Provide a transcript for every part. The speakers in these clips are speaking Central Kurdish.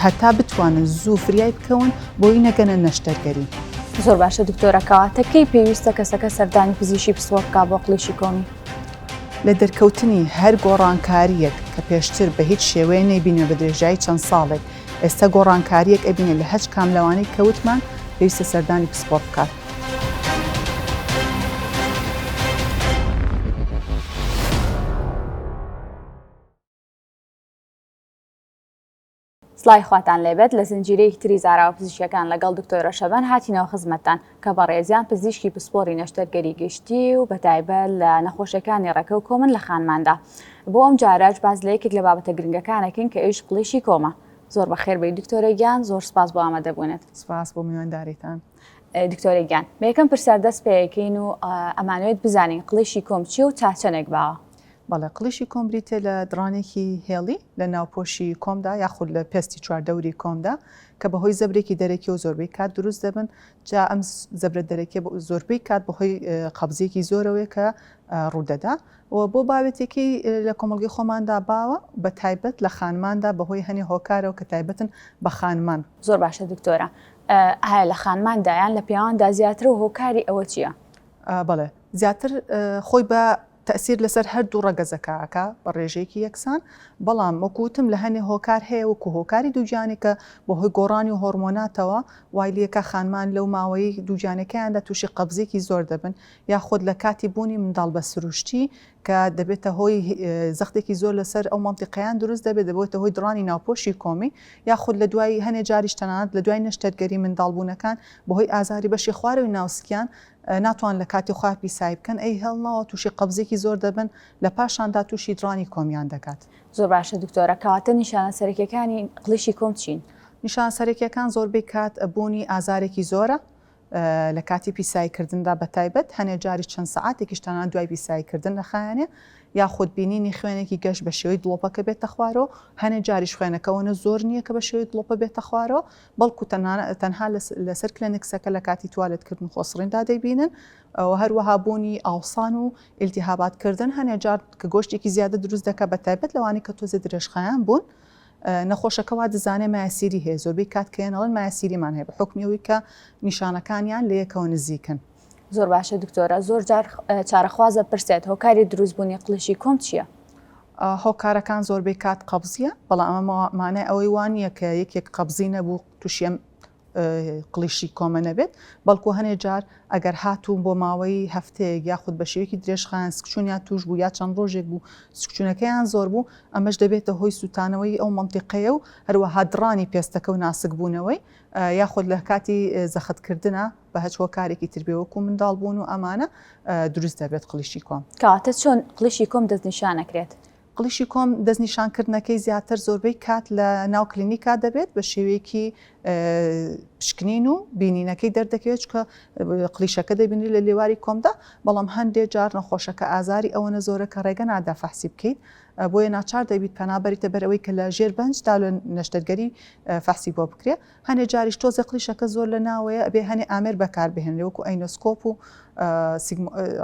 هەتا بتوانن زوو فریای بکەون بۆی نەگەنە نەشتەرگەری زۆر باشە دکتۆرەکەواتە کەی پێویستە کەسەکە سەردانی پزیشی پسوە بک بۆ قلیشی کۆمی لە دەرکەوتنی هەر گۆڕانکاریەک کە پێشتر بە هیچ شێوەیە نەیبینە بە درێژایی چەند ساڵێک ئێستا گۆڕانکاریەک ئەبینێ لە هەچ کام لەوانەی کەوتمان پێویستە سەردانی پسپۆر بکات سڵاوی خواتان لێبێت لە زنجیرەیەکی تری زاراوە پزیشکەکان لەگەڵ دکتۆرە شەبەن هاتینەوە خزمەتتان کە بەڕێزیان پزیشکی پسپۆری نەشتەرگەری گشتی و بەتایبەت لە نەخۆشیەکانی ڕێکە و کۆمن لە خانماندا بۆ ئەم جاراج باز لە یەکێک لە بابەتە گرنگەکانەکەین کە ئێش قڵیشی کۆمە زۆر بەخێر بێی دکتۆرە گیان زۆر سپاس بۆ ئامادەبوونت سپاس بۆ میوانداریتان دکتۆرە گیان بە یەکەم پرسیار دەست پێەکەین و ئەمانوێت بزانین قڵیشی کۆم چیە و تا چەنێک باوە بەڵێ قڵیشی کۆم بریتە لە دڕانێکی هێڵی لە ناوپۆشی کۆمدا یاخود لە پێستی چواردەوری کۆمدا کە بەهۆی زەبرێکی دەرەکی و زۆربەی کات دروست دەبن جا ئەم زەبرە دەرەکێ زۆربەی کات بەهۆی قەبزیەکی زۆرەوەی کە ڕوودەدا و بۆ باوێتێکی لە کۆمەلگی خۆماندا باوە بە تایبەت لە خانماندا بەهۆی هەنی هۆکارەوە کە تایبەتن بە خانمان زۆر باشە دکتۆرە ئایا لە خانماندا یان لە پیاواندا زیاترە و هۆکاری ئەوە چییە؟ بەڵێ زیاتر خۆی بە تەئسیر لەسەر هەردوو ڕەگەزەکە ئەکا بە ڕێژەیەکی یەکسان، بەڵام وەکو وتم لە هەنێ هۆکار هەیە وەکو هۆکاری دووگیانی کە بەهۆی گۆڕانی هۆڕمۆناتەوە وای لێ کا خانمان لەو ماوەی دووگیانەکەیاندا تووشی قەبزێکی زۆر دەبن یاخود لە کاتی بوونی منداڵ بە سروشتی کە دەبێتە هۆی زەختێکی زۆر لەسەر ئەو مەنتیقەیان دروست دەبێت، دەبێتە هۆی دڕانی ناوپۆشی کۆمی، یاخود لە دوای هەنێ جاریش تەنانەت لە دوای نەشتەرگەری منداڵبوونەکان بەهۆی ئازاری بەشی خوارەوەی ناو سکیان ناتوان لە کاتی خۆیان پیسایی بکەن ئەی هێڵنەوە تووشی قەبزێکی زۆر دەبن لە پاشاندا تووشی دڕانی کۆمیان دەکات. زۆر باشە دکتۆرە کەواتە نیشانە سەرەکیەکانی قڵیشی کۆم چین؟ نیشانە سەرەکیەکان زۆربەی کات بوونی ئازارێکی زۆرە لە کاتی پیسایی کردندا بە تایبەت، هەنێ جاریش چەند سەعاتێکیش تەنانەت دوای پیسایی کردن نەخایەنێ، یاخود بینینی خوێنێکی گەش بە شێوەی دڵۆپەکە بێتە خوارەوە، هەنێ جاریش خوێنەکە وەنە زۆر نییە کە بە شێوەی دڵۆپە بێتە خوارەوە، بەڵکو تەنها لە سەر کلێنکسەکە لە کاتی توالێت کردن و خۆسڕیندا دەیبینن و هەروەها بوونی ئاوسان و ئیلتیهابات کردن هەنێ جار کە گۆشتێکی زیادە دروست دەکات بە تایبەت لەوانەی کە تۆزێ درێژخایان بوون نەخۆشەکە وا دەزانێت مایەسیری هەیە، زۆربەی کات کلێن ئەڵێن مایەسیریمان هەیە بە حوکمی ئەوەی کە نیشانەکانیان لە یەکەوە نزیکن. زۆر باشە دکتۆرە زۆر جار چارەخوازە پرسێت هۆکاری دروست بوونی قلشی کۆم چییە؟ هۆکارەکان زۆربەی کات قەبزیە بەڵام ئەمە مانای ئەوەی وان یەکە یەکێک قەبزی نەبوو تووشێم قڵیشی کۆمە نەبێت بەڵکو هەنێ جار ئەگەر هاتوون بۆ ماوەی هەفتەیەک یاخود بە شێوەیەکی درێژخان سکچونیان توش بوو یا چەند ڕۆژێک بوو سکچونەکەیان زۆر بوو ئەمەش دەبێتە هۆی سووتانەوەی ئەو منتیقەیە و هەروەها دڕانی پێستەکە و ناسک بوونەوەی یاخود لە کاتی زەختکردە بە هەچ هۆکارێکی تربێوەکو منداڵ بوون و ئەمانە دروست دەبێت قلیشی کۆم کاتە چۆن قلیشی کۆم دەستنیشانەکرێت قڵیشی کۆم، دەستنیشانکردنەکەی زیاتر زۆربەی کات لە ناو کلینیکا دەبێت بە شێوەیەکی پشکنین و بینینەکەی دەردەکەوێت چکە قلیشەکە دەبینری لە لێواری کۆمدا بەڵام هەندێک جار نەخۆشەکە ئازاری ئەوەنە زۆرە کە ڕێگە نادا فەحسی بکەیت بۆیە ناچار دەبیت پەنابەریتە بەرەوەی کە لە ژێر بەنجدا لە نەشتەرگەری فەحسی بۆ بکرێ هەنێ جاریش تۆزە قلیشەکە زۆر لە ناوەیە بێ هەنێ ئامێر بەکاربهێنێ وەکو ئەینۆسکۆپ و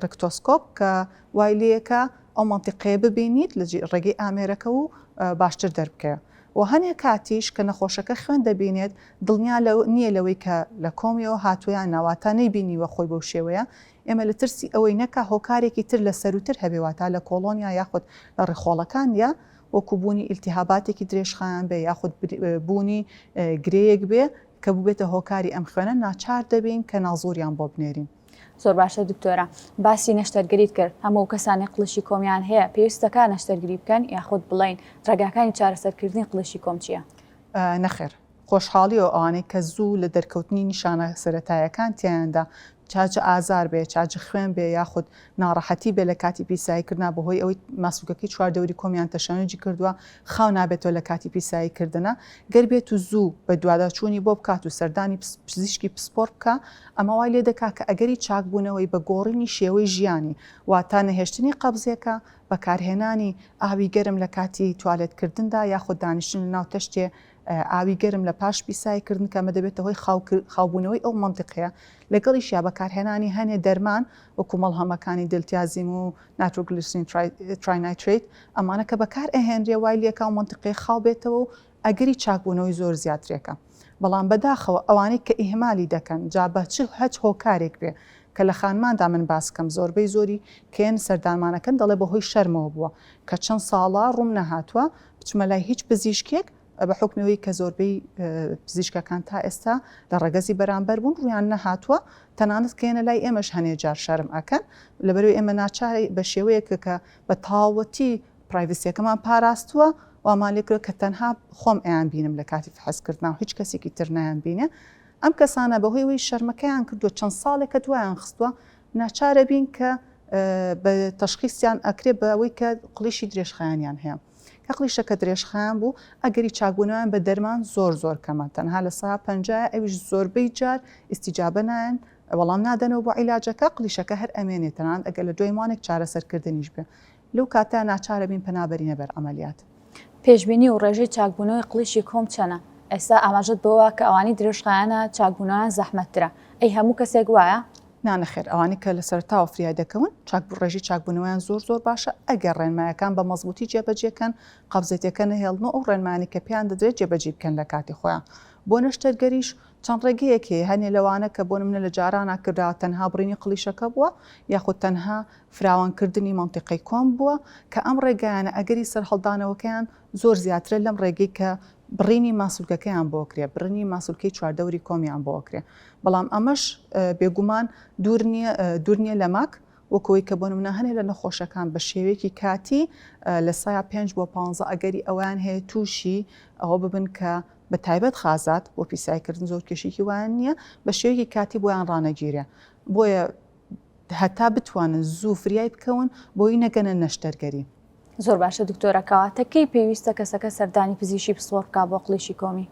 ڕکتۆسکۆپ کە وای لێکا ئەو مەنتیقەیە ببینیت لە ڕێگەی ئامێرەکە و باشتر دەربکەوێ و هەنێ کاتیش کە نەخۆشەکە خوێن دەبینێت دڵنیا نییە لەوەی کە لە کۆمیەوە هاتووە یان نا واتا نەیبینیوە خۆی بەو شێوەیە ئێمە لە ترسی ئەوەی نەکا هۆکارێکی تر لە سەرووتر هەبێ واتا لە کۆڵۆنیا یاخود لە ڕێخۆڵەکان یا وەکوو بوونی ئیلتیهاباتێکی درێژخایەن بێ یاخود بوونی گرێیەک بێ کە بووبێتە هۆکاری ئەم خوێنە ناچار دەبین کە نازووریان بۆ بنێرین. زۆر باشە دکتۆرە باسی نەشتەرگەریت کرد هەموو ئەو کەسانەی قڵشی کۆمیان هەیە پێویست دەکات نەشتەرگری بکەن یاخود بڵێین ڕێگاکانی چارەسەرکردنی قڵشی کۆم چیە؟ نەخێر خۆشحاڵیەوە ئەوانەی کە زوو لە دەرکەوتنی نیشانە سەرەتایەکان تیایاندا چا جە ئازار بێ چا جە خوێن بێ یاخود ناڕەحەتی بێ لە کاتی پیسایی کردنا بەهۆی ئەوەی ماسولکەکەی چواردەوری کۆمیان تەشەنەجی کردووە خاو نابێتەوە لە کاتی پیسایی کردنە، گەر بێت و زوو بەدواداچوونی بۆ بکات و سەردانی پزیشکی پسپۆڕ بکا، ئەمە وای لێ دەکا کە ئەگەری چاکبوونەوەی بە گۆڕینی شێوەی ژیانی، واتە نەهێشتنی قەبزێکە، بەکارهێنانی ئاوی گەرم لە کاتی توالێتکردندا یاخود دانیشتن لەناو تەشتێ ئاوی گەرم لە پاش پیسایی کردن کە ئەمە دەبێتە هۆی خاوبوونەوەی ئەو مەنتیقەیە، لەگەڵیشیا بەکارهێنانی هەنێ دەرمان وەکوو مەڵهەمەکانی دلتیازیم و نایترۆگلیسرین تراینایترەیت، ئەمانە کە بەکار ئەهێنرێ وای لێکا ئەو مەنتیقەیە خاو بێتەوە و ئەگەری چاک بوونەوەی زۆر زیاترێکە بەڵام بەداخەوە ئەوانەی کە ئیهمالی دەکەن جا بە چ هەچ هۆکارێک بێ کە لە خانماندا من باس کەم زۆربەی زۆری کێن سەردانمانەکەن دەڵێ بەهۆی شەرمەوە بووە کە چەند ساڵە ڕووم نەهاتووە بچمە لای هیچ پزیشکێک بە حوکمی ئەوەی کە زۆربەی پزیشکەکان تا ئێستا لە ڕەگەزی بەرامبەر بوون ڕوویان نەهاتووە تەنانەت کە یەنە لای ئێمەش هەنێ جار شەرم ئەکەن لەبەرەوەی ئێمە ناچاری بە شێوەیەکە کە بە تاوەتی پرایڤسیەکەمان پاراستووە وامان لێکرە کە تەنها خۆم ئەیان بینم لە کاتی فحس کردنا و هیچ کەسێکی تر نایان بینێ ئەم کەسانە بەهۆی ئەوەی شەرمەکەیان کردووە چەند ساڵێکە دوایان خستووە ناچارە بین کە بە تەشخیسیان ئەکرێ بە ئەوەی کە قڵیشی درێژخایەنیان هەیە کە قلیشەکە درێژخایەن بوو، ئەگەری چاکبوونەوەیان بە دەرمان زۆر زۆر کەمە، تەنها لە سەدا پەنجایە، ئەویش زۆربەی جار ئیستیجابە نایەن، وەڵام نادەنەوە بۆ عیلاجەکە، قلیشەکە هەر ئەمێنێ، تەنانەت ئەگەر لە دوای مانێک چارەسەرکردنیش بێ، لەو کاتە ناچارەبین پەنا بەرینە بەر عەمەلیات. پێشبینی و ڕێژەی چاکبوونەوەی قلیشی کۆم چەنە؟ ئێستا ئاماژەت بەوە کە ئەوانەی درێژخایەنە چاکبوونەوەیان زەحمەتترە، ئەی هەموو کەسێک وایە؟ نا نەخێر ئەوانەی کە لە سەرەتاوە فریای دەکەون چاک بوو ڕێژی چاکبوونەوەیان زۆر زۆر باشە ئەگەر ڕێنمایەکان بە مەزبووتی جێبەجێکەن قەبزێتەکە نەهێڵن و ئەو ڕێنمایانەی کە پێیان دەدرێت جێبەجی بکەن لە کاتی خۆیان بۆ نەشتەرگەریش چەند ڕێگەیەک هەیە هەنێ لەوانە کە بۆ نمونە لە جارانا کرا تەنها بڕینی قڵیشەکە بووە یاخود تەنها فراوانکردنی مەنتیقەی کۆم بووە کە ئەم ڕێگایانە ئەگەری سەرهەڵدانەوەکەیان زۆر زیاترە لەم ڕێگەی کە بڕینی ماسولکەکەیان بۆ کرێ بڕنی ماسولکەی چواردەوری کۆمیان بۆ کرێ بەڵام ئەمەش بێگومان دوور نییە دوور نییە لە ماک وەکەوەی کە بۆ منە هەنێ لە نەخۆشەکان بە شێوەیەکی کاتی لە سایە 5 بۆ 15 ئەگەری ئەویان هەیە تووشی ئەوە ببن کە بە تایبەت خازات بۆ پیسایکردن زۆر کێشێکی وایان نییە بە شێوەیەکی کاتی بۆیان ڕانەگیرێ بۆیە هەتا بتوانن زوو فریای بکەون بۆی نەگەنە نەشتەرگەری. زۆر باشە دکتۆرە کەواتە کەی پێویستە کەسەکە سەردانی پزیشی پسپۆڕ بکا بۆ قڵیشی کۆمی؟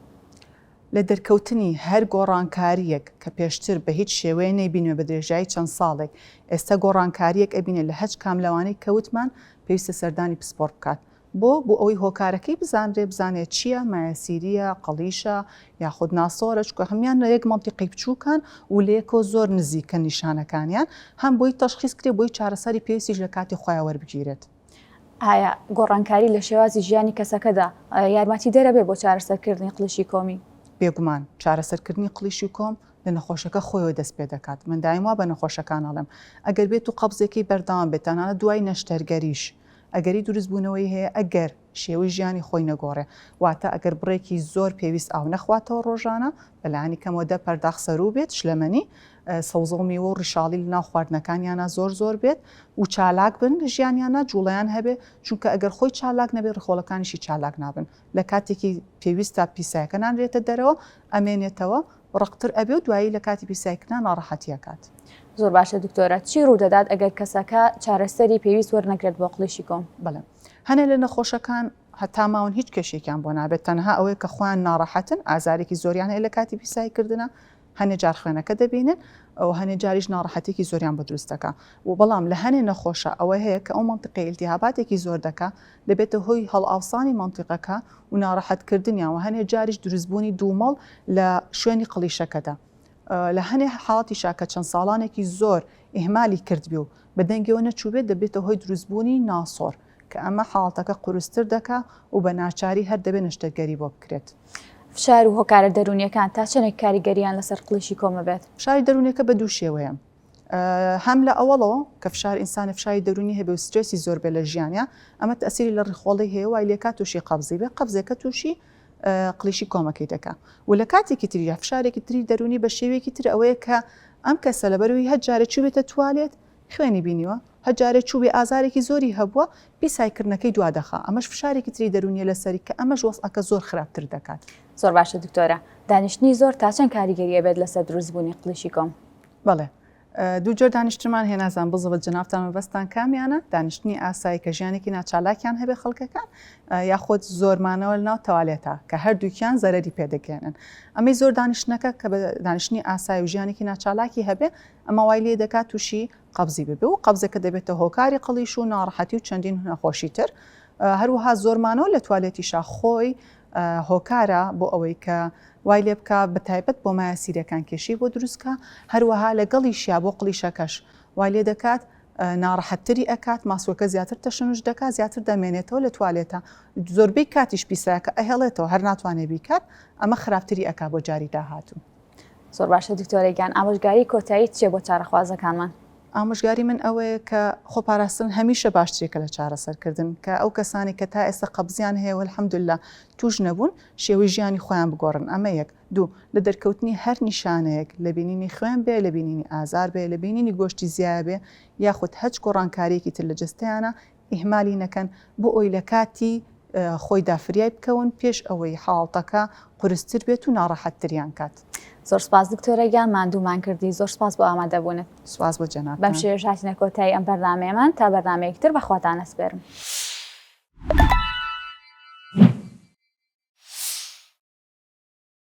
لە دەرکەوتنی هەر گۆڕانکاریەک کە پێشتر بە هیچ شێوەیە نەیبینمە بە درێژایی چەند ساڵێک ئێستا گۆڕانکاریەک ئەبینێ لە هەچ کام لەوانەی کە وتمان پێویستە سەردانی پسپۆڕ بکات بۆ؟ بۆ ئەوەی هۆکارەکەی بزانرێ، بزانێ چییە، مایەسیرییە، قەڵیشە، یاخود ناسۆرە، چونکە هەموویان لە یەک مەنتیقی بچووکن و لە یەکەوە زۆر نزیکن نیشانەکانیان، هەم بۆی تەشخیس کرێ، بۆی چارەسەری پێویستیش لە کاتی خۆیا وەربگیرێت. ئایا گۆڕانکاری لە شێوازی ژیانی کەسەکەدا یارمەتیدەرە بێ بۆ چارەسەرکردنی قڵیشی کۆمی؟ بێگومان، چارەسەرکردنی قڵیشی کۆم لە نەخۆشەکە خۆیەوە دەست پێ دەکات، من دایم وا بە نەخۆشەکان ئەڵێم، ئەگەر بێتوو قەبزێکەی بەردەوام بێت، تەنانەت دوای نەشتەرگەریش، ئەگەری دروست بوونەوەی هەیە ئەگەر شێوەی ژیانی خۆی نەگۆڕێ، واتە ئەگەر بڕێکی زۆر پێویست ئاو نەخواتەوە ڕۆژانە، بەلانی کەمەوە دە پەرداخ سەروو بێت، شلەمەنی، سەوزە و میوە و ڕیشاڵی لە ناو خواردنەکانیانا زۆر زۆر بێت و چالاک بن لە ژیانیانا جوڵەیان هەبێ، چونکە ئەگەر خۆی چالاک نەبێ ڕیخۆڵەکانیشی چالاک نابن، لە کاتێکی پێویستا پیسایەکە نانرێتە دەرەوە ئەمێنێتەوە ڕەقتر ئەبێ و دوایی لە کاتی پیسایی کردنا ناڕەحەتی ئەکات. زۆر باشە دکتۆرە چی ڕوودەدات ئەگەر کەسەکە چارەسەری پێویست وەرنەگرێت بۆ قڵیشی گۆم؟ بەڵێ هەنێ لە نەخۆشەکان هەتا ماون هیچ کێشەیەکیان بۆ نابێت تەنها ئەوەیە کە خۆیان ناڕەحەتن ئازارێکی زۆریان هەیە لە کاتی پیسایی کردنا هەنێ جار خوێنەکە دەبینن ئەو هەنێ جاریش ناڕەحەتێکی زۆریان بە دروست دەکا و بەڵام لە هەنێ نەخۆشە ئەوە هەیە کە ئەو مەنتقەی التهاباتێکی زۆر دەکا دەبێتە هۆی هەڵئاوسانی مەنتیقەکە و ناڕەحەتکردنیان و هەنێ جاریش دروستبوونی دوومەڵ لە شوێنی قڵیشەکەدا لە هەنێ حاڵەتیشا کە چەند ساڵانێکی زۆر ئیهمالی کردبێ و بە دەنگیەوە نەچووبێ دەبێتە هۆی دروستبوونی ناسۆر کە ئەمە حاڵەتەکە قورستر دەکا و بە ناچاری هەر دەبێ نەشتەرگەری بۆ بکرێت. فشار و هۆکارە دەروونیەکان تا چەندێک کاریگەریان لەسەر قڵیشی کۆمەبێت؟ فشاری دەروونیەکە بە دوو شێوەیە. هەم لە ئەوەڵەوە کە فشار ئینسانێ فشاری دەرونی هەبێ و سترێسی زۆر بێ لە ژیانیا ئەمە تەئسیری لە ڕیخۆڵەی هەیە وای لێکا توشی قەبزی بێ قەبزێکە توشی قلیشی کۆمەکەی دەکا و لە کاتێکی تریدا فشارێکی تری دەرونی بە شێوەیەکی تر ئەوەیە کە ئەم کەسە لەبەروی هەر جارێ چوبێتە توالێت خوێنی بینیوە هەر جارێ چوبێ ئازارێکی زۆری هەبووە پیسایکردنەکەی دوا دەخا ئەمەش فشارێکی تری دەرونیە لەسەری کە ئەمەش وەسعەکە زۆر خراپتر دەکات زۆر باشە دکتۆرە دانیشتنی زۆر تا چەند کاریگەریە بێت لەسەر دروستبوونی قلیشی کۆم بەڵێ دوو جۆر دانیشتمان هەیە نازان بزڵت جنافتان مەبەستان کامیانە دانیشتنی ئاسایی کە ژیانێکی ناچالاکیان هەبێ خەڵکەکان یاخۆت زۆرمانەوە ناو تەوالێتە کە هەردووکیان زەرری پێدەگەێنن ئەمەی زۆر دانیشتەکە کە بە دانیشتنی ئاسایی و ژیانێکی ناچالاکی هەبێ ئەمە وای لێ دەکات تووشی قبزی ببێ و قبزەکە دەبێتە هۆکاری قڵیش و ناڕەحەتی و چەندین هونەخۆشی تر هەروها زۆرمانەوە لە توالێتیشا خۆی هۆکارە بۆ ئەوەی کە وای لێ بکا بەتایبەت بۆ مایە سیرەکان کێشەی بۆ دروست کا هەروەها لەگەڵیشیا بۆ قڵیشەکەش وای لێ دەکات ناڕەحەتتری ئەکات ماسوەکە زیاتر تەشنوش دەکات زیاتر دەمێنێتەوە لە توالێتە زۆربەی کاتیش پیساکە ئەهێڵێتەوە هەر ناتوانێ بیکات ئەمە خراپتری ئەکا بۆ جاری داهاتوو. زۆر باشە دکتۆرە گیان ئامۆژگاری کۆتایی چیە بۆ چارەخوازەکانمان؟ ئامۆژگاری من ئەوەیە کە خۆپاراستن هەمیشە باشترێکە لە چارەسەرکردن کە ئەو کەسانی کە تا ئێستا قەبزیان هەیە الحمدللە توش نەبوون شێوەی ژیانی خۆیان بگۆڕن ئەمە یەک دوو لە دەرکەوتنی هەر نیشانەیەک لە بینینی خوێن بێ لە بینینی ئازار بێ لە بینینی گۆشتی زیایە بێ یاخود هەچ گۆڕانکاریەکی تر لە جەستەیانە ئیهمالی نەکەن بۆ ئەوەی لە کاتی خۆیدا فریای بکەون پێش ئەوەی حاڵتەکە قورستر بێت و ناڕەحەتتریان کات. زۆر سپاس دکتۆرە گیان ماندوومان کردی زۆر سپاس بۆ ئامادەبوونت سپاس بۆ جەنابتان بەم شێوەیەش هاتینە کۆتایی ئەم بەرنامەیەمان تا بەرنامەیەکی تر بەخواتان ئەسپێرم.